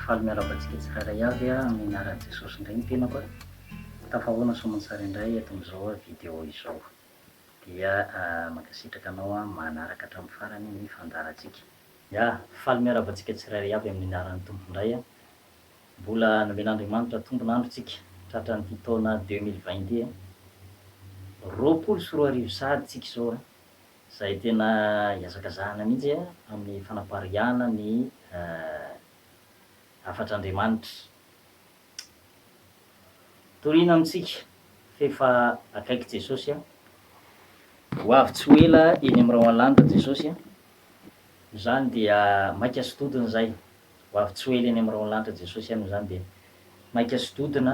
faly miarahaba antsika tsirairay avy amin'ny anaran'i Jesosy indray ny tenako. Tafahoana soamantsara indray eto amin'izao vidéo izao. Dia mankasitraka anao an manaraka hatramin'ny farany ny fandaharantsika. Ya, faly miarahaba antsika tsirairay avy amin'ny anaran'ny Tompo indray an! Mbola nomen'Andriamanitra tombon'andro tsika tratran'ity taona deux mille vingt ity an! Roapolo sy roa arivo sahady tsika izao an! Izay tena iazakazahana mihitsy an amin'ny fanapariahana ny hafatr'Andriamanitra. Torina amintsika f'efa akaiky Jesosy a. Ho avy tsy ho ela eny amin'ny Roanlanitra Jesosy a. Izany dia maika sy dodona izay. Ho avy tsy ho ela eny amin'ny Roanlanitra Jesosy a. Izany dia maika sy dodona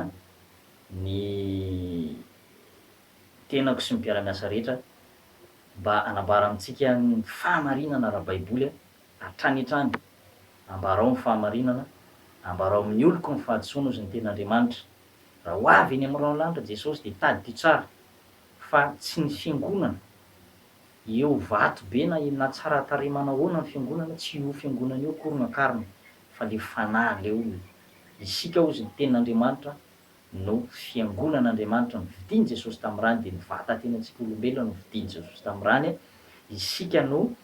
ny tenako sy ny mpiara-miasa rehetra mba hanambara amintsika ny fahamarinana ara-baiboly a. Hatrany hatrany, ambarao ny fahamarinana, ambarao amin'ny oloko ny fahadisoana, hozy ny Tenin'Andriamanitra. Raha ho avy eny amin'ny raolanitra Jesosy dia tadidio tsara fa tsy ny fiangonana eo vato be na na tsara tarehy manahoana ny fiangonana, tsy io fiangonana io akory no akarina fa le fanahy le olona. Isika hozy ny Tenin'Andriamanitra no fiangonan'Andriamanitra novidin'i Jesosy tamin'ny rany dia ny vatatenatsika olombelona novidin'i Jesosy tamin'ny rany, isika no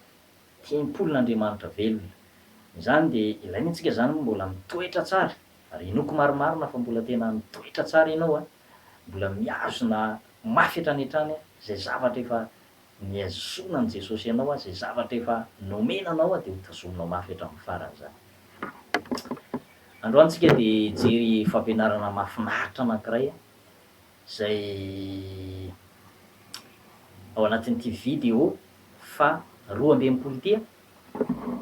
Tempolin'Andriamanitra velona. Izany dia ilaina antsika izany moa mbola mitoetra tsara ary hinoako marimarina fa mbola tena mitoetra tsara ianao a! Mbola mihazona mafy hatrany hatrany a! Izay zavatra efa nihazonan'i Jesosy anao a! Izay zavatra efa nomena anao a! Dia ho tazominao mafy hatramin'ny farany izany. Androany tsika dia hijery fampianarana mahafinaritra anankiray a! izay ao anatin'ity video faha roa amby enimpolo ity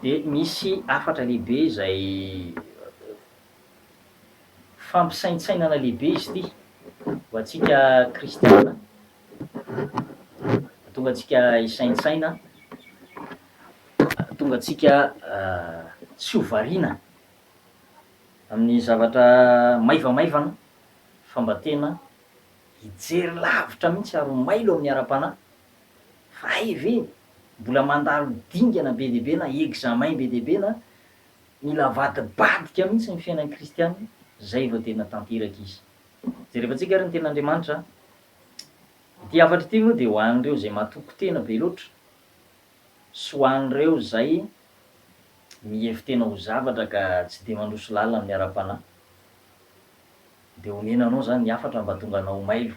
dia misy hafatra lehibe izay fampisaintsainana lehibe izy ity ho antsika kristiana hahatonga antsika hisaintsaina hahatonga antsika tsy ho variana amin'ny zavatra maivamaivana fa mba tena hijery lavitra mihitsy ary ho mailo amin'ny ara-panahy, fa hay ve mbola mandalo dingana be dia be na examen be dia be na mila avadibadika mihitsy ny fiainan'ny kristiana izay vao tena tanteraka izy. Jerevantsika ary ny Tenin'Andriamanitra. Ity hafatra ity moa dia ho an'ireo izay matoky tena be loatra sy ho an'ireo izay mihevi-tena ho zavatra ka tsy dia mandroso lalina amin'ny ara-panahy. dia onena anao izany ny hafatra mba tonga anao ho mailo.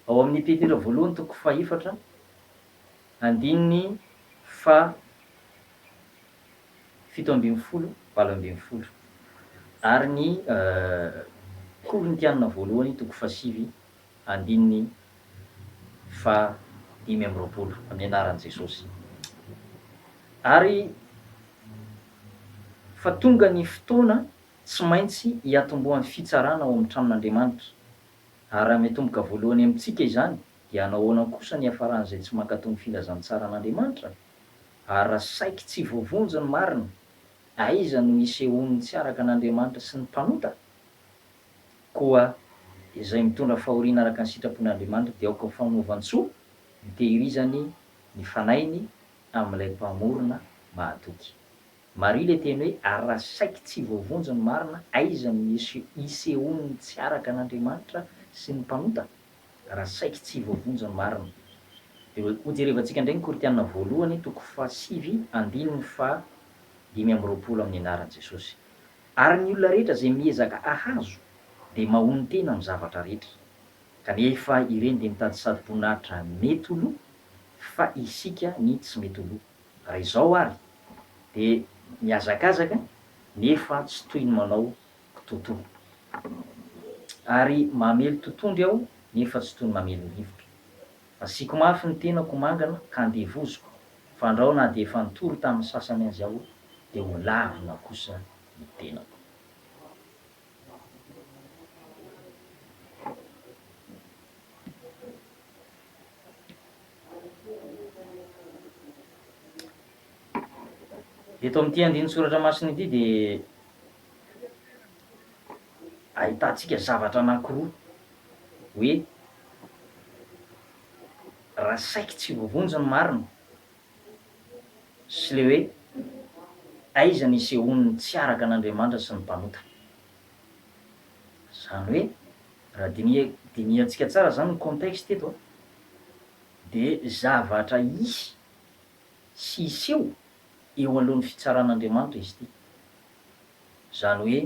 Ao amin' ny Petera voalohany toko fahefatra andininy faha fito ambin'ny folo, valo ambin'ny folo ary ny Korintiana voalohany toko fahasivy andininy faha dimy amby roapolo amin' ny anaran' Jesosy ary fa tonga ny fotoana Tsy maintsy hiatombohan'ny fitsarana ao amin'ny tranon'Andriamanitra. Ary raha miatomboka voalohany amintsika izany, dia hanao ahoana kosa ny hiafaran'izay tsy mankato ny filazantsaran'Andriamanitra? Ary raha saiky tsy voavonjy ny marina, aiza no hisehoan'ny tsy araka an'Andriamanitra sy ny mpanota? Koa izay mitondra fahoriana araka ny sitrapon'Andriamanitra dia aoka ho famonovan-tsoa ny tehirizany ny fanahiny amin'ilay Mpamorona mahatoky. Marina le teny hoe ary raha saiky tsy voavonjy ny marina aiza no isehoan'ny tsy araka an'Andriamanitra sy ny mpanota? Raha saiky tsy voavonjy ny marina. Dia hojerevantsika indray ny Korintiana voalohany toko faha sivy andininy faha dimy amby roapolo amin'ny anaran'i Jesosy. Ary ny olona rehetra izay miezaka hahazo dia mahonon-tena amin'ny zavatra rehetra. Kanefa ireny dia mitady sady-boninahitra mety ho lo fa isika ny tsy mety ho lo. Raha izao ary dia mihazakazaka nefa tsy toy ny manao kitotoa. Ary mamely totohondry aho nefa tsy toy ny mamely ny rivotra. Asiako mafy ny tenako mangana ka andevoziko, fandrao na dia efa nitory tamin'ny sasany azy aho dia ho lavina kosa ny tenako. Eto amin'ity andinin-tsoratra masina ity dia ahitantsika zavatra anankiroa hoe raha saiky tsy voavonjy ny marina sy le hoe aiza nisehoan'ny tsy araka an'Andriamanitra sy ny mpanota. Zany hoe raha diniha dinihantsika tsara zany ny contexte eto a de zavatra hisy sy hiseho eo alohan'ny fitsaran'Andriamanitra izy ity. Zany hoe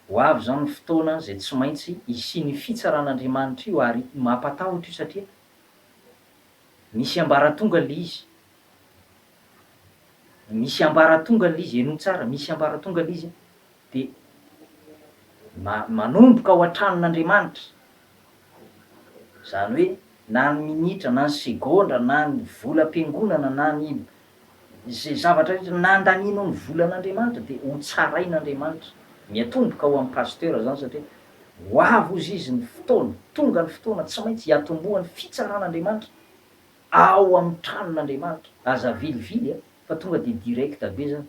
ho avy zany ny fotoana zay tsy maintsy hisian'io fitsaran'Andriamanitra io ary mampatahotra io satria. Misy ambaratonga le izy Misy ambaratonga le izy Henoy tsara, Misy ambaratonga le izy dia ma- manomboka ao an-tranon'Andriamanitra. Izany hoe na ny minitra na ny segondra na ny volam-piangonana na ny Izay zavatra rehetra nandanianao ny volan'Andriamanitra dia ho tsarain'Andriamanitra. Miatomboka ho an'i Pasteur izany satria ho avy hozy izy ny fotoana, tonga ny fotoana tsy maintsy hiatombohan'ny fitsaran'Andriamanitra ao amin'ny tranon'Andriamanitra. Aza avilivily a, fa tonga dia direct be izany.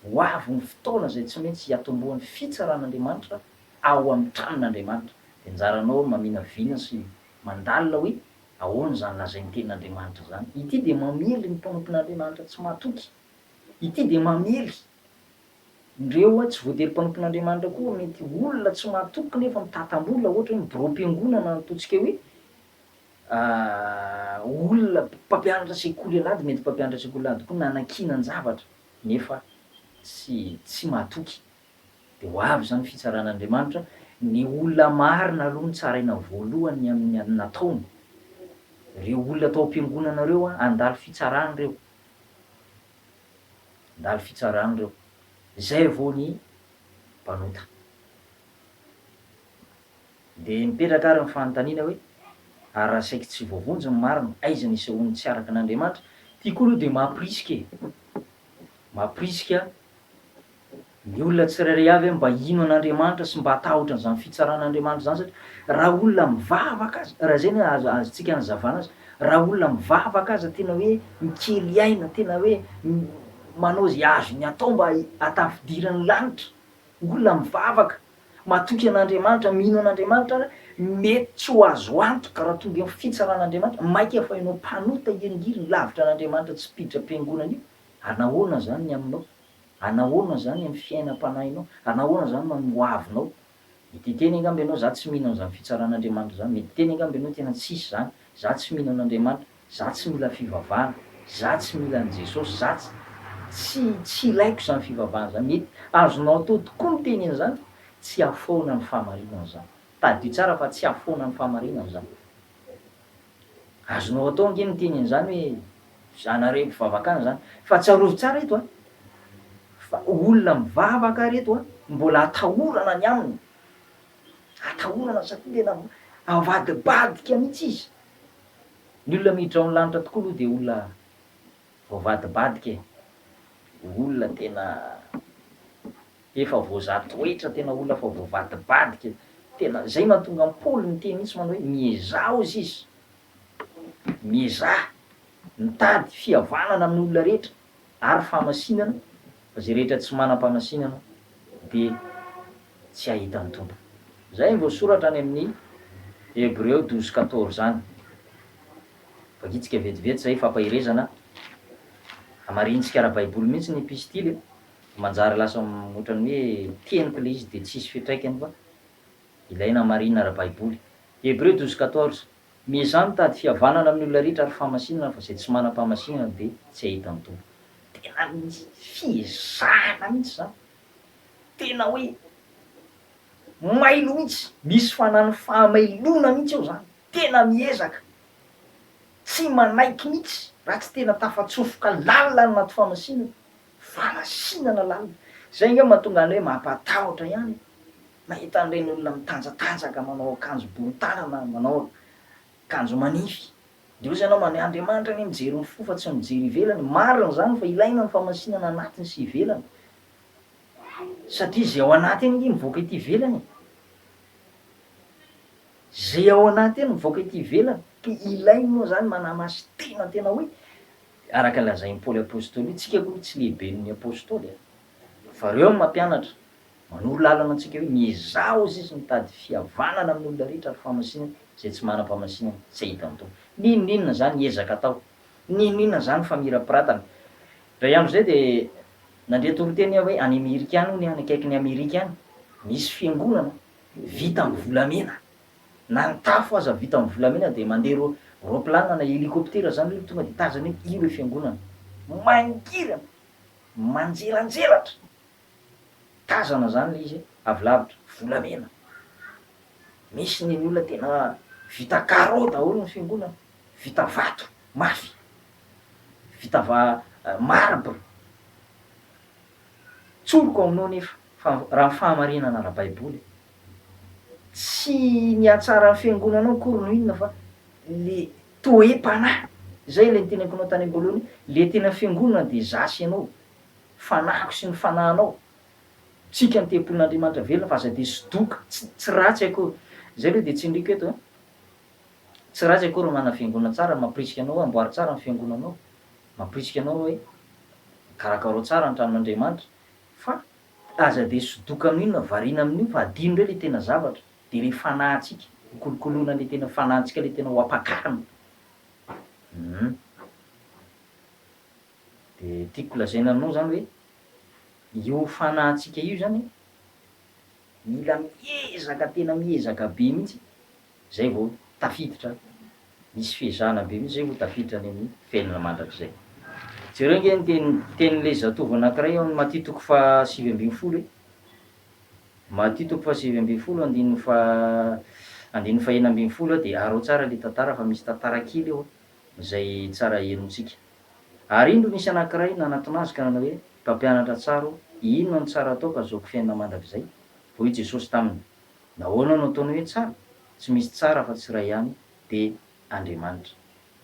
Ho avy ny fotoana izay tsy maintsy hiatombohan'ny fitsaran'Andriamanitra ao amin'ny tranon'Andriamanitra. Dia anjaranao maminavina sy mandalina hoe Ahoana izany lazain'ny Tenin'Andriamanitra izany? Ity dia mamely ny mpanompon'Andriamanitra tsy matoky. Ity dia mamely ireo tsy voatery mpanompon'Andriamanitra koa. Mety olona tsy matoky nefa mitata-bola, ohatra hoe ny biraom-piangonana natotsika hoe olona mpampianatra sekoly alahady, mety mpampianatra sekoly alahady koa nanakinan-javatra nefa tsy tsy matoky. Dia ho avy izany fitsaran'Andriamanitra, ny olona marina aloha no tsaraina voalohany amin'ny nataony. Ireo olona tao am-piangonana ireo handalo fitsarana ireo. Handalo fitsarana ireo. Izay vao ny mpanota. Dia mipetraka ary ny fanontaniana hoe, ary raha saiky tsy voavonjy ny marina, aiza ny isehoan'ny tsy araka an'Andriamanitra? Ity koa aloha dia mampirisika e! Mampirisika. Ny olona tsirairay avy mba hino an'Andriamanitra sy mba hatahotra an'izany fitsaran'Andriamanitra izany satria raha olona mivavaka aza, raha izay no azontsika anazavana azy, raha olona mivavaka aza tena hoe mikely aina, tena hoe manao izay azony atao mba hahatafidiran'ny lanitra, olona mivavaka, matoky an'Andriamanitra, mino an'Andriamanitra ary mety tsy ho azo antoka raha tonga eo ny fitsaran'Andriamanitra, mainka fa ianao mpanota hiringiriny lavitra an'Andriamanitra tsy mpiditra am-piangonana io, ary nahoana izany ny aminao? Anahoana izany amin'ny fiainam-panahinao? Anahoana izany no amin'ny hoavinao? Mety hiteny angamba ianao, Izaho tsy mino an'izany fitsaran'Andriamanitra izany. Mety hiteny angamba ianao, Tena tsisy izany. Izaho tsy mino an'Andriamanitra. Izaho tsy mila fivavahana. Izaho tsy mila an'i Jesosy. Izaho tsy, tsy, tsy ilaiko izany fivavahana izany. Mety azonao atao tokoa ny teny an'izany. Tsy hahafoana ny fahamarinana izany. Tadidio tsara fa tsy hahafoana ny fahamarinana izany. Azonao atao ange ny miteny an'izany hoe zanareo mpivavaka any izany. Fa tsarovy tsara eto a! Fa olona mivavaka ary eto a! Mbola atahorana ny aminy. Atahorana satria tena avadibadika mihitsy izy. Ny olona miditra ao ny lanitra tokoa aloha dia olona Voavadibadika e! Olona tena efa voazaha toetra, tena olona efa voavadibadika, tena zay mahatonga an'i Paoly niteny mihitsy manao hoe miezaha ozy izy, miezaha mitady fihavanana amin'ny olona rehetra ary famasinana, fa zay rehetra tsy manam-pamasinana dia tsy hahita ny Tompo. Zay ny voasoratra any amin'ny Hebreo douze quatorze any. Vakintsika vetivety izay fampaherezana hamarinintsika ara-baiboly mihitsy ny epistily e! manjary lasa ohatran'ny hoe teniko ilay izy dia tsisy fiatraikany fa ilaina hamarinina ara-baiboly. Hébreux douze quatorze, Miezaha mitady fihavanana amin'ny olona rehetra ary fahamasinana fa izay tsy manam-pahamasinana dia tsy hahita ny Tompo. Tena misy fiezahana mihitsy izany, tena hoe mailo mihitsy, misy fanan'ny fahamailoana mihitsy ao izany. Tena miezaka, tsy manaiky mihitsy raha tsy tena tafatsofoka lalina any anaty famasinana, famasinana lalina. Izay ange mahatonga anay mampatahotra ihany e! Mahita an'ireny olona mitanjatanjaka manao akanjo bory tanana, manao akanjo manify. Dia hoy ianao, Ny Andriamanitra anie mijery ny fo fa tsy mijery ivelany. Marina izany fa ilaina ny famasinana anatiny sy ivelany. Satria izay ao anatiny ange mivoaka ety ivelany e! Izay ao anaty any mivoaka ety ivelany, ka ilainy moa izany manamasy tena tena hoe, araka ny lazain'i Paoly Apostoly, Isika aloha tsy lehiben'ny Apostoly e! Fa ireo no mampianatra, manoro lalana antsika hoe miezaha hoy izy mitady fihavanana amin'ny olona rehetra ary famasinana izay tsy manam-pamasinana, tsy ahitan'ny Tompo. N'inon'inona izany ezaka atao, n'inon'inona izany famirapiratana. Indray andro izay dia nandre toriteny aho hoe any Amerika any hono e, any akaikin'i Amerika any, misy fiangonana, vita amin'ny volamena, na ny tafo aza vita amin'ny volamena dia mandeha ro roplanina na helicoptera zany reo tonga de tazana eo io le fiangonana mangirana manjelanjelatra tazana zany le izy avy lavitra volamena misy ny ny olona tena vita carreau daholo ny fiangonana vita vato mafy vita va- marbre tsoriko aminao nefa Fa raha ny fahamarinana ara-baiboly, tsy ny hatsara ny fiangonanao akory no inona fa le toe-panahy, izay ilay niteneniko anao tany amboalohany hoe le tena fiangonana dia za sy ianao, fanahiko sy ny fanahinao, tsika ny tempolin'Andriamanitra velona fa aza dia sodoka, tsy ratsy akory, izay aloha dia tsindriko eto an, tsy ratsy akory ny manana fiangonana tsara, ny mampirisika anao hoe amboary tsara ny fiangonanao, mampirisika anao hoe karakarao tsara ny tranon'Andriamanitra, Fa aza dia sodoka amin inona variana amin io fa adino indray ilay tena zavatra dia ilay fanahintsika ho kolokoloina ilay tena fanahintsika ilay tena ho ampakarina humm dia tiako lazaina aminao izany hoe io fanahintsika io izany mila miezaka tena miezaka be mihitsy Zay vao tafiditra misy fiezahana be mihitsy zay vao tafiditra any amin'ny fiainana mandrakizay. Jereo ange ny teny tenin'ilay zatovo anankiray ao amin'ny Matia toko faha sivy ambin'ny folo e. Matia toko faha sivy ambin'ny folo andininy faha andininy faha enina ambin'ny folo dia araho tsara ilay tantara fa misy tantara kely ao izay tsara henontsika. Ary indro nisy anankiray nanatona azy ka nanao hoe, Mpampianatra tsara ô, inona no tsara atao ka azahoako fiainana mandrakizay? Hoy Jesosy taminy, Nahoana no ataony hoe tsara? Tsy misy tsara afa tsy iray ihany, dia Andriamanitra.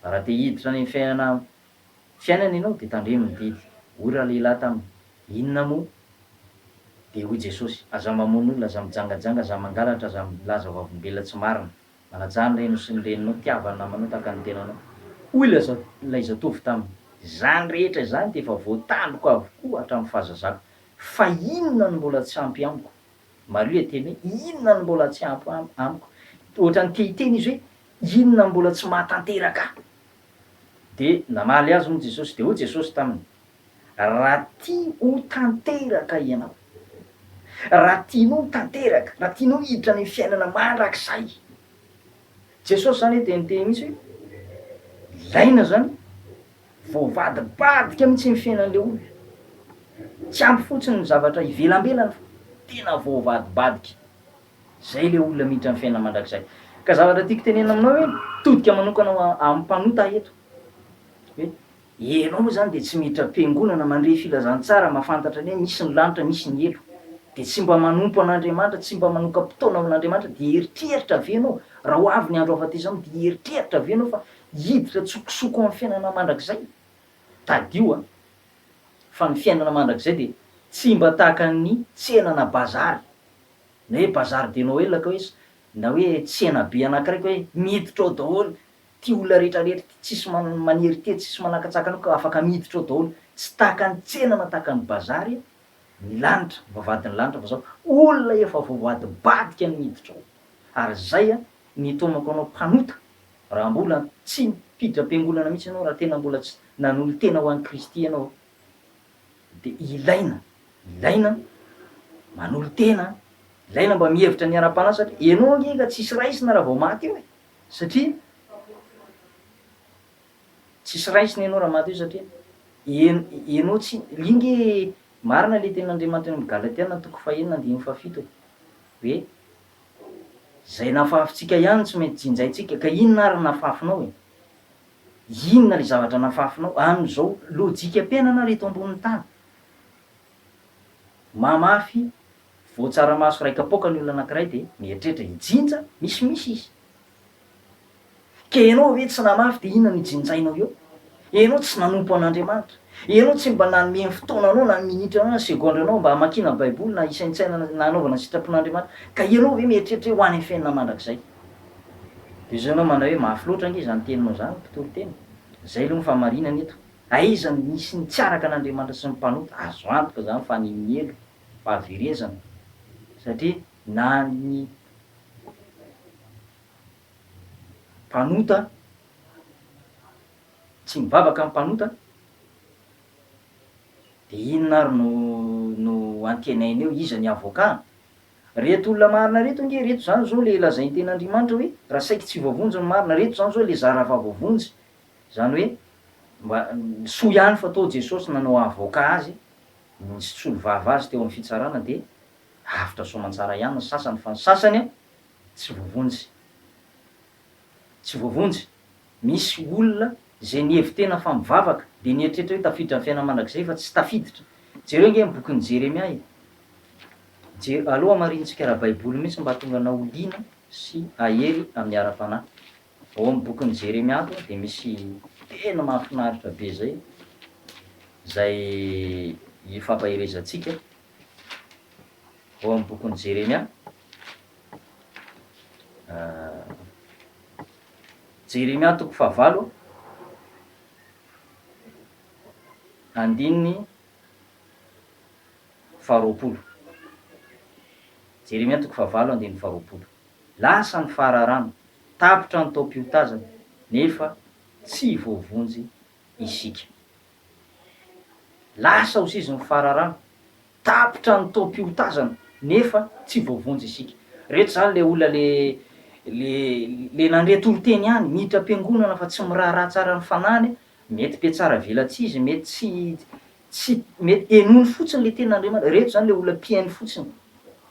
Raha te hiditra any amin'ny fiainana fiainana ianao dia tandremo ny didy. Hoy ralehilahy taminy, Inona moa? Dia hoy Jesosy, Aza mamono olona, aza mijangajanga, aza mangalatra, aza milaza vavolombelona tsy marina. Manajà ny renao sy ny reninao, tiava ny namanao tahaka ny tenanao. Hoy ilay zatovo taminy, Izany rehetra izany dia efa voatandriko avokoa hatramin'ny fahazazako. Fa inona no mbola tsy ampy amiko? Maria teny hoe, Inona no mbola tsy ampy amiko? Ohatran'ny te hiteny izy hoe, Inona no mbola tsy mahatanteraka ahy? Dia namaly azy moa Jesosy, dia hoy Jesosy taminy, Raha tia ho tanteraka ianao, raha tianao ho tanteraka, raha tianao hiditra any amin'ny fiainana mandrakizay. Jesosy izany dia niteny mihitsy hoe, Ilaina izany. Voavadibadika mihitsy ny fiainan'ilay olona. Tsy ampy fotsiny ny zavatra ivelambelany fa tena voavadibadika. Izay ilay olona miditra amin'ny fiainana mandrakizay. Ka zavatra tiako tenenina aminao hoe todika manokana ho amin'ny mpanota eto. Hoe ianao moa izany dia tsy miditra am-piangonana, mandre filazantsara, mahafantatra ny hoe misy ny lanitra, misy ny helo. Dia tsy mba manompo an'Andriamanitra, tsy mba manoka-potoana amin'Andriamanitra, dia hieritreritra ve ianao, raha ho avy ny andro hahafatesana anao, dia hieritreritra ve ianao fa Hiditra an-tsokosoko amin'ny fiainana mandrakizay? Tadidio an! Fa ny fiainana mandrakizay dia tsy mba tahaka ny tsena na bazary, na hoe bazar de Noël ka hoe, na hoe tsenabe anankiray ka hoe miditra ao daholo ity olona rehetra rehetra ity, tsisy manery ity, tsisy manakatsaka anao ka afaka miditra ao daholo. Tsy tahaka ny tsena na tahaka ny bazary ny lanitra, ny vavahadin'ny lanitra fa zao, olona efa voavadibadika no miditra ao. Ary zay an, ny taomako anao mpanota Raha mbola tsy nipiditra am-piangonana mihitsy ianao, raha tena mbola tsy nanolo-tena ho an'i Kristy ianao, dia ilaina, ilaina manolo-tena, ilaina mba mihevitra ny hiara-panahy satria ianao ange efa tsy hisy raisina raha vao maty eo e! satria tsy hisy raisina ianao raha maty eo satria ianao tsy li nge marina ilay tenin'Andriamanitra any amin'ny Galatiana toko fahenina andininy fahafito e! hoe Izay nafafintsika ihany tsy maintsy jinjaintsika, ka inona ary no nafafinao e? Inona ilay zavatra nafafinao amin'izao lojikam-piainana ary eto ambonin'ny tany? Mamafy voan-tsaramaso iray kapoaka ny olona anankiray dia mieritreritra hijinja, misimisy izy, Ka ianao ve tsy namafy dia inona no hijinjainao eo? Ianao tsy nanompo an'Andriamanitra. Ianao tsy mba nanome ny fotoananao na ny minitranao na ny segondranao mba hamakiana Baiboly na hisaintsainana na hanaovana ny sitrapon'Andriamanitra. Ka ianao ve mieritreritra hoe ho any amin'ny fiainana mandrakizay? Dia izao ianao mandray hoe mafy loatra ange izany teninao izany mpitory teny. Izay aloha ny fahamarinana eto. Aiza no misy ny tsy araka an'Andriamanitra sy ny mpanota? Azo antoka izany fa ny miely, fahaverezana. Satria na ny. Mpanota, tsy mivavaka ny mpanota, dia inona ary no no antenainy eo? Iza ny avoka? Reto olona marina reto ange, reto izany izao ilay lazain'ny Tenin'Andriamanitra hoe raha saiky tsy voavonjy ny marina, reto izany izao ilay zara raha voavonjy, izany hoe mba soa ihany fa tao Jesosy nanao avoka azy, nisolo vava azy teo amin'ny fitsarana dia. Avotra soamantsara ihany ny sasany fa ny sasany tsy voavonjy. Tsy voavonjy. Misy olona izay nihevi-tena fa mivavaka dia nieritreritra hoe tafiditra ny fiainana mandrakizay fa tsy tafiditra. Jereo ange ny bokin'i Jeremia e! Jer. Aleo hamarinintsika ara-baiboly mihitsy mba hahatonga anao ho liana sy hahery amin'ny ara-panahy. Ao amin'ny bokin'i Jeremia ato dia misy teny mahafinaritra be izay izay ifampaherezantsika. ao amin'ny bokin'i Jeremia. Jeremia toko fahavalo, andininy faharoapolo. Jeremia toko fahavalo, andininy faharoapolo. Lasa ny fahararana, tapitra ny taom-piotazana, nefa tsy voavonjy isika. Lasa ho sisin'ny fararano. Tapitra ny taom-piotazana nefa tsy voavonjy isika. Reto izany ilay olona le le le nandre toriteny ihany, miditra am-piangonana fa tsy miraharaha tsara ny fanahiny, mety be tsara velatsihy izy, mety tsy tsy mety henoiny fotsiny le tenin'Andriamanitra. Reto izany ilay olona mpihaino fotsiny.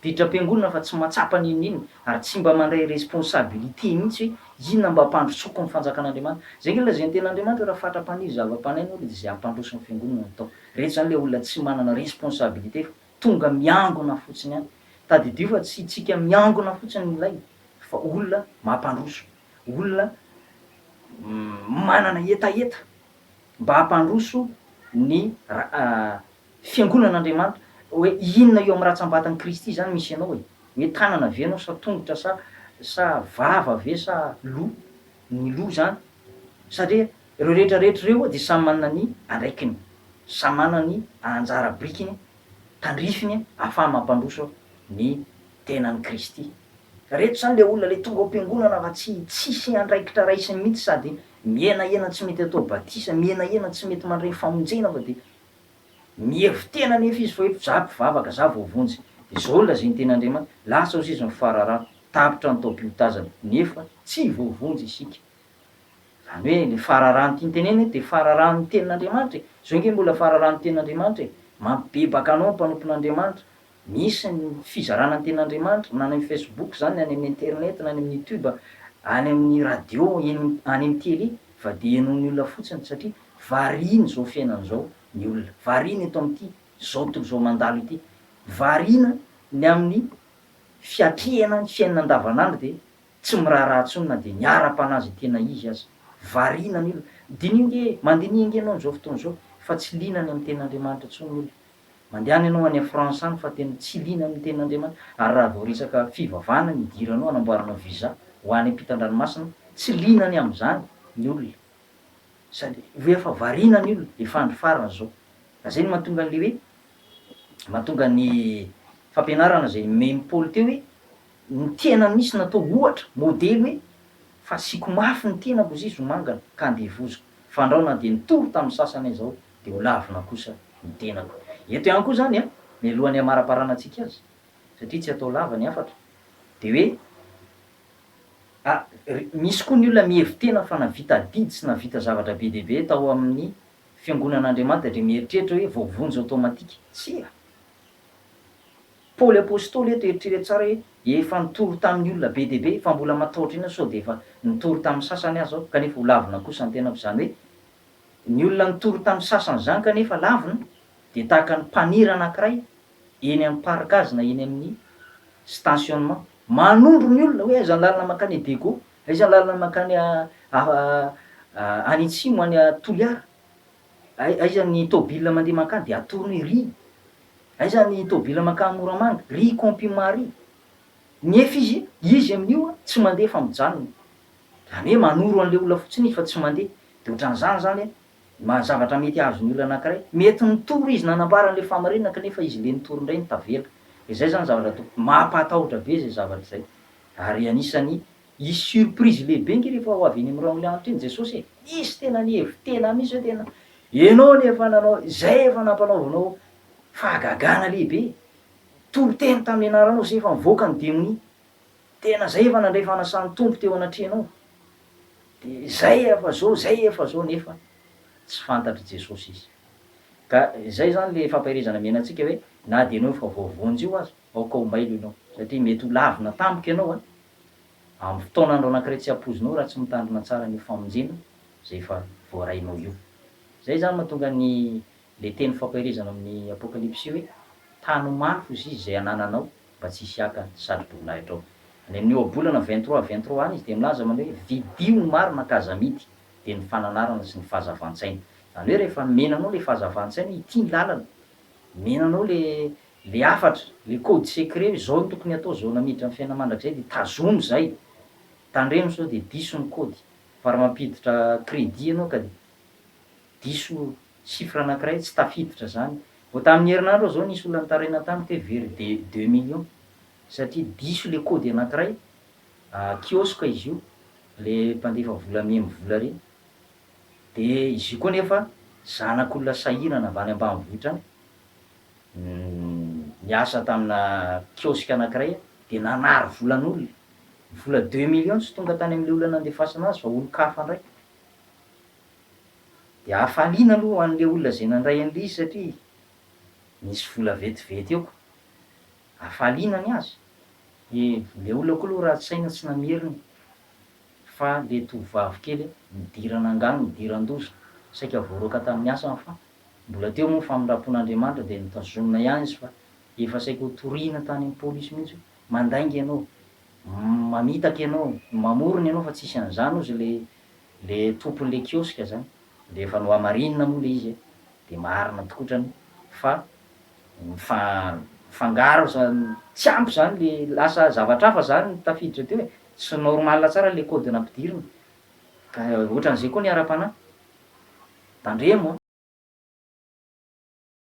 Didiram-piangonana fa tsy mahatsapa ny inona inona ary tsy mba mandray responsabilité mihitsy hoe inona mba hampandrosoako ny fanjakan'Andriamanitra. Izay nge lazain'ny tenin'Andriamanitra hoe raha fatra mpaniry zava-panahy ianao dia izay hampandroso ny fiangonana no atao. Ireto izany ilay olona tsy manana responsabilité fa tonga miangona fotsiny ihany. Tadidio fa tsy tsika miangona fotsiny no ilaina fa olona mampandroso, olona manana hetaheta. mba hampandroso ny Fiangonan'Andriamanitra. Hoe inona eo amin'ny ratsam-batan'i Kristy izany misy anao e? Hoe tanana ve ianao sa tongotra sa sa vava ve sa loha? Ny loha izany. Satria ireo rehetra rehetra ireo dia samy manana ny andraikiny. Samy manana ny anjara birikiny tandrifiny ahafaha mampandroso ny tenan'i Kristy. Ireto izany ilay olona ilay tonga ao am-piangonana fa tsy tsisy andraikitra raisiny mihitsy sady Mihenahena tsy mety atao batisa, mihenahena tsy mety mandray ny famonjena fa dia mihevi-tena anefa izy fa hoe za mpivavaka, za voavonjy, dia izao no lazain'ny teny Andriamanitra, lasa ao sisa ny fararano, tapitra ny taom-piotazana, nefa tsy voavonjy isika. Izany hoe ilay fararano tiany tenena eto dia fararanon'ny tenin'Andriamanitra e! Izao ange mbola fararanon'ny tenin'Andriamanitra e! Mampibebaka anao ny mpanompon'Andriamanitra, Misy ny fizarana ny tenin'Andriamanitra na any amin'ny Facebook zany na any amin'ny internet na any amin'ny YouTube any amin'ny radio eny any amin'ny télé fa dia henoin'ny olona fotsiny satria variana izao fiainana izao ny olona variana eto amin'ity zao tontolo izao mandalo ity variana ny amin'ny fiatrehana ny fiainana andavanandro dia tsy miraharaha intsony na dia ny ara-panahy izay tena izy aza variana ny olona diniho ange mandiniha ange ianao an'izao fotoana izao fa tsy liana any amin'ny tenin'Andriamanitra intsony ny olona Mandehana ianao any France any fa tena tsy liana amin'ny tenin'Andriamanitra ary raha vao resaka fivavahana ny idiranao hanamboaranao visa ho any ampitan-dranomasina tsy liana ny amin'izany ny olona sady ho efa variana ny olona efa andro farany izao ka izay no mahatonga an'ilay hoe mahatonga ny fampianarana izay nomen'i Paoly teo hoe ny tena misy natao ohatra, modely hoe fasiako mafy ny tenako zizo mangana ka andevoziko fandrao na dia nitory tamin'ny sasany aza aho dia ho lavina kosa ny tenako. Eto ihany koa izany, mialoha ny hamaraparana antsika azy, satria tsy atao lava ny hafatra, dia hoe, a, ry, misy koa ny olona mihevi-tena fa navita adidy sy navita zavatra be dia be tao amin'ny Fiangonan'Andriamanitra dia mieritreritra hoe voavonjy automatique. Tsia! Paoly Apostoly eto, eritrereto tsara hoe, efa nitory tamin'ny olona be dia be, fa mbola matahotra inona sao dia efa nitory tamin'ny sasany aza aho, kanefa ho lavina kosa ny tenako, izany hoe, Ny olona nitory tamin'ny sasany izany kanefa lavina dia tahaka ny mpanira anankiray eny amin'ny parc azy na eny amin'ny stationnement. Manondro ny olona hoe aiza ny lalana mankany Dego, aiza ny lalana mankany any atsimo any Toliara, aiza ny tôbila mandeha mankany dia atorony hoe ry aiza ny tôbila mankany Moramanga, ry Compima ry. Nefa izy, izy amin'io tsy mandeha fa mijanona. Zany hoe manoro an'ilay olona fotsiny izy fa tsy mandeha. Dia ohatran'izany izany an, ma- zavatra mety hahazo ny olona anankiray. Mety nitory izy nanambara an'ilay fahamarinana kanefa izy indray nitory indray no tavela. Dia izay izany zavatra to, mampahatahotra be izay zavatra izay. Ary anisan'ny hisy surprise lehibe nge rehefa ho avy eny amin'ny royaume le Andritr'i Jesosy e! Misy tena ny hevi, tena misy hoe tena ianao no efa nanao izay efa nampanaovanao fahagagana lehibe, toriteny tamin'ny anaranao izay efa nivoaka ny demonia. Tena zay efa nandray fanasan'ny Tompo teo anatrehanao de zay efa zao zay efa zao nefa tsy fantatr'i Jesosy izy. Ka zay zany le fampaherezana miaina antsika hoe na de enao efa voavonjy io aza aoka ho mailo enao satria mety ho lavina tampoka enao a amin'ny fotoana andro anankiray tsy hampoizinao raha tsy mitandrina tsara an'io famonjena zay efa voarainao io. Zay zany mahatonga ny Ilay teny fampaherezana ao amin'ny Apokalypsy hoe, Tano mafy ho zizy izay anananao, mba tsy hisy haka ny satroboninahitra ao. Any amin'ny Ohabolana vingt-trois, vingt-trois any izy dia milaza manao hoe, Vidio ny marina ka aza amidy, dia ny fananarana sy ny fahazavan-tsaina. Izany hoe rehefa mena anao ilay fahazavan-tsaina hoe ity ny lalana, mena anao ilay ilay hafatra, ilay code secret hoe izao no tokony hatao, izao no hamiditra amin'ny fiainana mandrakizay dia tazomy izay. Tandremo sao dia diso ny kody. Fa raha mampiditra crédit ianao ka. Diso chiffre anankiray tsy tafiditra zany. Vao tamin'ny herinandro aho zao nisy olona nitaraina tamiko hoe vers des deux millions satria diso le kody anankiray, kiosque izy io, le mpandefa vola mihaino vola re. De izy io koa nefa zanak'olona sahirana avy any ambanivohitra any, niasa tamina kiosque anankiray de nanary volan'olona. Vola deux millions tsy tonga tany amin'le olona nandefasana azy fa olon-kafa ndray. Dia hafaliana aloha ho an'ilay olona izay nandray an'ilay izy satria nisy vola vetivety eo. Hafaliana ny azy. Dia ilay olona koa aloha ratsy saina tsy namerina fa ilay tovovavy kely nidirana angaha nidiran-doza, saika voaroaka tamin'ny asany fa mbola teo moa ny famindram-pon'Andriamanitra dia notazomina ihany izy fa efa saika ho toriana tany amin'ny polisy mihitsy hoe mandainga ianao, mamitaka ianao, mamorona ianao fa tsisy an'izany hozy ilay le tompon le kiosque zany de efa nohamarinina moa le izy e de marina tokoa otrany fa mifangaro zany tsy ampy zany le lasa zavatra hafa zany ny tafiditra teo e tsy normal tsara le code nampidirina ka otran'izay koa ny ara-panahy tandremo a.